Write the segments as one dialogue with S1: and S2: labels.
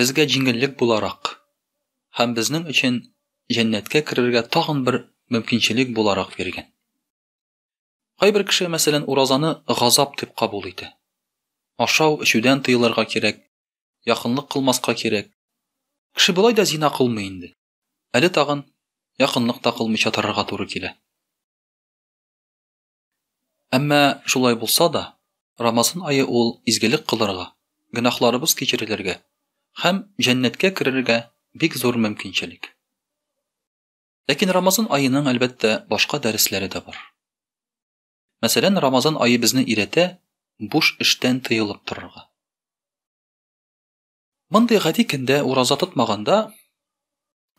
S1: Безгә җиңеллек буларак һәм безнең өчен җәннәткә керергә тагын бер мөмкинчелек буларак биргән. Кайбер кеше, мәсәлән, уразаны газап дип кабул итә. Ашау, эчүдән тыелырга кирәк, якынлык кылмаска кирәк. Кеше болай да зина кылмый инде. Әле тагын якынлык та кылмыйча торырга туры килә. Әмма шулай булса да, Рамазан ае ул изгелек кылырга, гөнаһларыбыз кичерелергә һәм җәннәткә керергә бик зур мөмкинчелек. Ләкин Рамазан аеның, әлбәттә, башка дәресләре дә бар. Мәсәлән, Рамазан ае безне өйрәтә буш эштән тыелып торырга. Мондый гади көндә ураза тотмаганда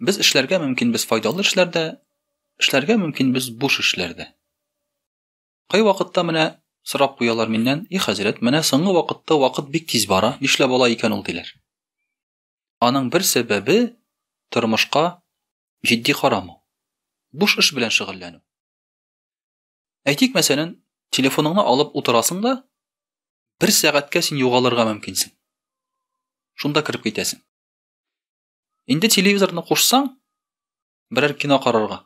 S1: без эшләргә мөмкин без файдалы эшләрдә, эшләргә мөмкин без буш эшләрдә. Кай вакытта менә сорап куялар миннән, и хәзрәт, менә соңгы вакытта вакыт бик тиз бара, нишләп ала икән ул диләр. Аның бер сәбәбе тормышка җитди карамау. Буш эш белән шөгыльләнү. Әйтик, мәсәлән, телефоныңны алып утырасың да, бер сәгатькә син югалырга мөмкинсең. Шунда кереп китәсең. Инде телевизорны кушсаң, берәр кино карарга.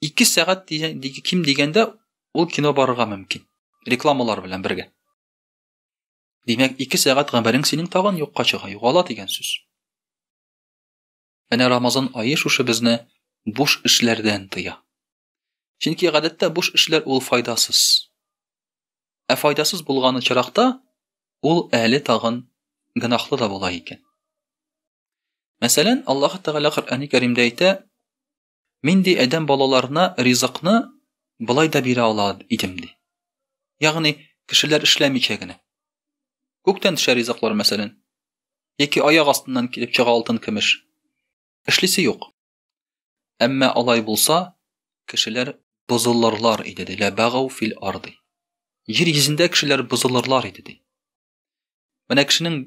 S1: 2 сәгать дигән ким дигәндә ул кино барырга мөмкин. Рекламалар белән бергә. Димәк, 2 сәгать гамәлең синең тагын юкка чыга, югала дигән сүз. Әнә Рамазан ае шушы безне буш эшләрдән тыя. Чөнки гадәттә буш эшләр ул файдасыз. Ә файдасыз булган очракта ул әле тагын гынахлы да була икән. Мәсәлән, Аллаһ Тәгалә Коръәни Кәримдә әйтә: "Мин ди адәм балаларына ризыкны былай да бирә ала идем" ди. Ягъни, кешеләр эшләмичә генә. Күктән төшә ризыклар, мәсәлән, яки аяк астыннан килеп чыга алтын-көмеш. Эшлисе юк. Әмма алай булса, кешеләр бозылырлар иде, ди. Ләбагау фил арды. Җир йөзендә кешеләр бозылырлар иде, ди. Менә кешенең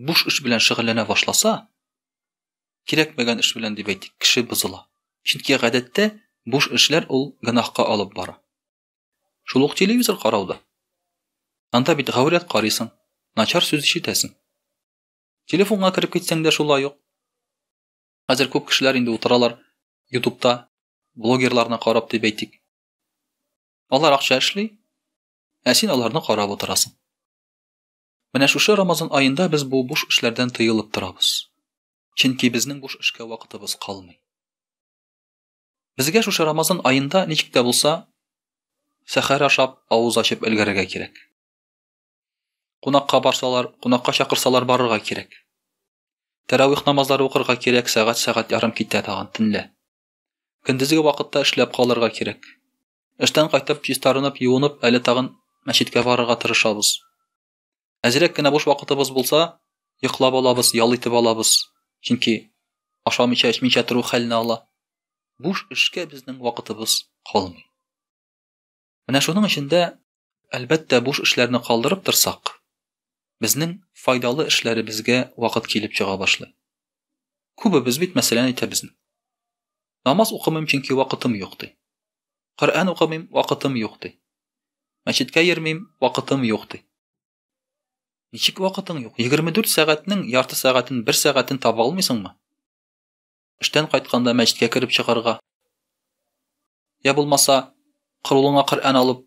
S1: буш эш белән шөгыльләнә башласа, кирәкмәгән эш белән дип әйтик, кеше бозыла. Чөнки гадәттә буш эшләр ул гөнаһка алып бара. Шул ук телевизор карауда. Анда бит гаурәт карыйсың, начар сүз ишетәсең. Телефонга кереп китсәң дә шулай ук. Хәзер күп кешеләр инде утыралар ютубта, блогерларны карап дип әйтик. Алар акча эшли, ә син аларны карап утырасың. Менә шушы Рамазан аенда без бу буш эшләрдән тыелып торабыз. Чөнки безнең буш эшкә вакытыбыз калмый. Безгә шушы Рамазан аенда ничек тә булса сәхәр ашап, авыз ачып өлгәрергә кирәк. Кунакка барсалар, кунакка чакырсалар барырга кирәк. Тәравих намазлары укырга кирәк, сәгать сәгать ярым китә тагын төнлә. Көндезге вакытта эшләп калырга кирәк. Эштән кайтып, чистарынып, юынып, әле тагын мәчеткә барырга тырышабыз. Әзрәк кенә буш вакытыбыз булса, йоклап алабыз, ял итеп алабыз. Чөнки ашамыйча, эчмичә тору хәлне ала. Буш эшкә безнең вакытыбыз калмый. Менә шуның өчен дә, әлбәттә, буш эшләрне калдырып торсак, безнең файдалы эшләребезгә вакыт килеп чыга башлый. Күбебез бит мәсәлән әйтәбез. Намаз укымыйм, чөнки вакытым юк ди. Коръән укымыйм, вакытым юк ди. Мәчеткә йөрмим, вакытым юк ди. Ничек вакытың юк? 24 сәгатьнең ярты сәгатен, бер сәгатен таба алмыйсыңмы? Эштән кайтканда мәчеткә кереп чыгарга. Я булмаса, кырулыңа Коръән алып,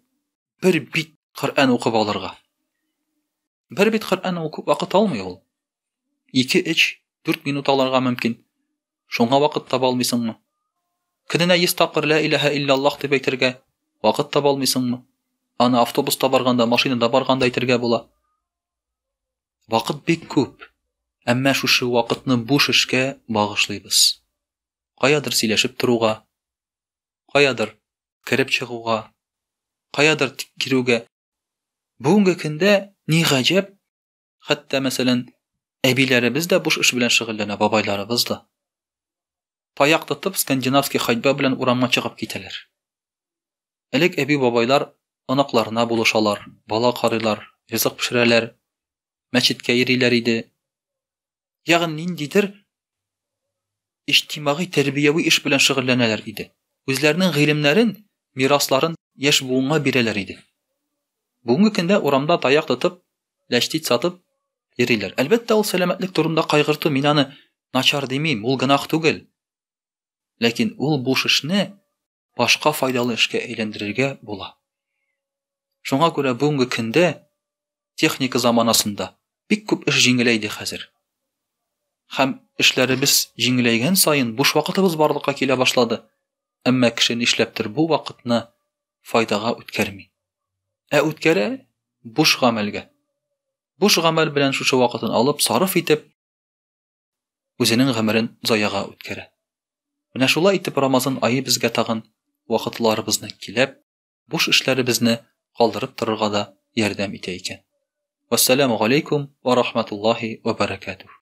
S1: бер бит Коръән укып алырга. Бер бит Коръән укып вакыт алмый ул. 2-3 4 минут алырга мөмкин. Шуңа вакыт таба алмыйсыңмы? Көненә 100 тапкыр ла илаһа иллаллах дип әйтергә вакыт таба алмыйсыңмы? Аны автобуста барганда, машинада барганда әйтергә була. Вакыт бик күп, әмма шушы вакытны буш эшкә багышлыйбыз. Каядыр сөйләшеп торуга, каядыр кереп чыгуга, каядыр кирүгә. Бүгенге көндә ни гаҗәп, хәтта мәсәлән, әбиләребез дә буш эш белән шөгыльләнә, бабайларыбыз да. таяк тотып, скандинавский ходьба белән урамга чыгып китәләр. Элек әби-бабайлар оныкларына булышалар, бала карыйлар, ризык пешерәләр, мәчеткә йөриләр иде. Ягъни ниндидер иҗтимагый тәрбияви эш белән шөгыльләнәләр иде. Үзләренең гыйлемнәрен, мирасларын яшь буынга бирәләр иде. Бүгенге көндә урамда таяк тотып, ләчтит сатып йөриләр. Әлбәттә, ул сәламәтлек турында кайгырту, мин аны начар димим, ул гынах түгел. Ләкин ул буш эшне башка файдалы эшкә әйләндерергә була. Шуңа күрә бүгенге көндә техника заманасында бик күп эш җиңеләйде хәзер. Хәм эшләребез җиңеләйгән саен буш вакытыбыз барлыкка килә башлады. әмма кеше нишләптер бу вакытны файдага үткәрми. Ә үткәрә буш гамәлгә. Буш гамәл белән шушы вакытын алып, сарыф итеп, үзенең гомерен заяга үткәрә. Менә шулай итеп Рамазан айы безгә тагын вакытларыбызны киләп, буш эшләребезне калдырып торырга да ярдәм итә икән. Вассаламу алейкум ва рахматуллахи ва баракатух.